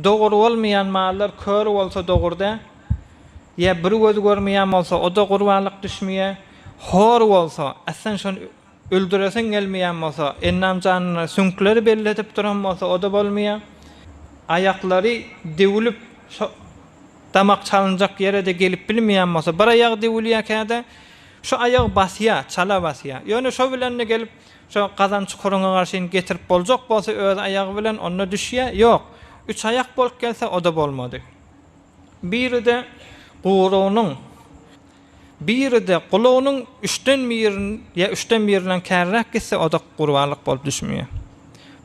Dogur bolmaýan mallar kör bolsa dogur-da, ýa bir gözi görmeýän bolsa, o-da gurbanlyk düşmeýär. Hor bolsa, äsden şony öldüresiň gelmeýän bolsa, ennam janyna süňkleri belledip duran bolsa, o-da bolmaýar. Aýaklary döwülip, şo damak çalynjak ýere-de gelip bilmeýän bolsa, bir aýagy döwülýär käde, şu aýagy basýar, çala basýar. Ýöne şo bilen-de gelip Şo gazan çukuryňa garşyn getirip boljak bolsa öz aýagy bilen onda düşýä, ýok, üç aýak bolup gelse oda bolmady. Biride gurunyň, biride gulagynyň üçden birin ýa üçden birinden kärräk gitse oda gurbanlyk bolup düşmýä.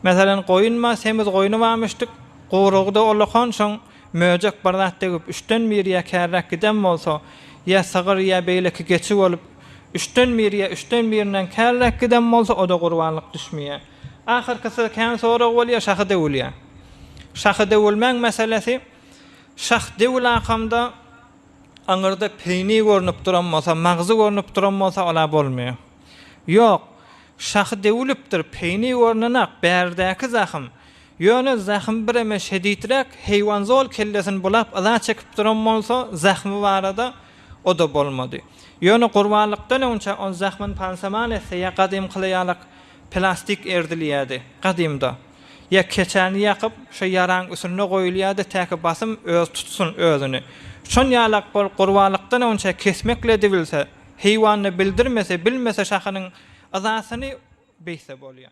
Meselen goýun bar, semiz goýny barmyşdyk, gurugy-da olakan şoň Möjek bir zat degip, üçden biri ýa kärräk giden bolsa, ýa sygyr, ýa beýleki geçi bolup, üçden biri ýa üçden birinden kärräk giden bolsa, o-da gurbanlyk düşmeýär. Ahyrkysy kän sorag bolýar, şahy döwülýär. Şahy döwülmäň meselesi, şah döwülakamda aňyrda peýni görnüp duran bolsa, magzy görnüp duran bolsa, ol-a bolmaýar. Ýok, şahy döwülipdir, peýni görnenak, bärdäki zahym. Ýöne zähim bireme şedidräk, heýwanzol kellesini bulap yza çekip duran bolsa, zähmi barada o-da bolmady. Ýöne gurbanlykdan öňçä ol zähmin pansaman etse ýa gadymkyly ýalak plastik erdilýärdi, gadymda, ýa keçäni ýakyp, şo ýaraň üsünde goýulýardy täki basym öz tutsun özüni. Şon ýalak bol gurbanlykdan öňçä kesmekledibilse, heýwanda bildirmese, bilmese şahynyň yzasyny beýtse bolýar.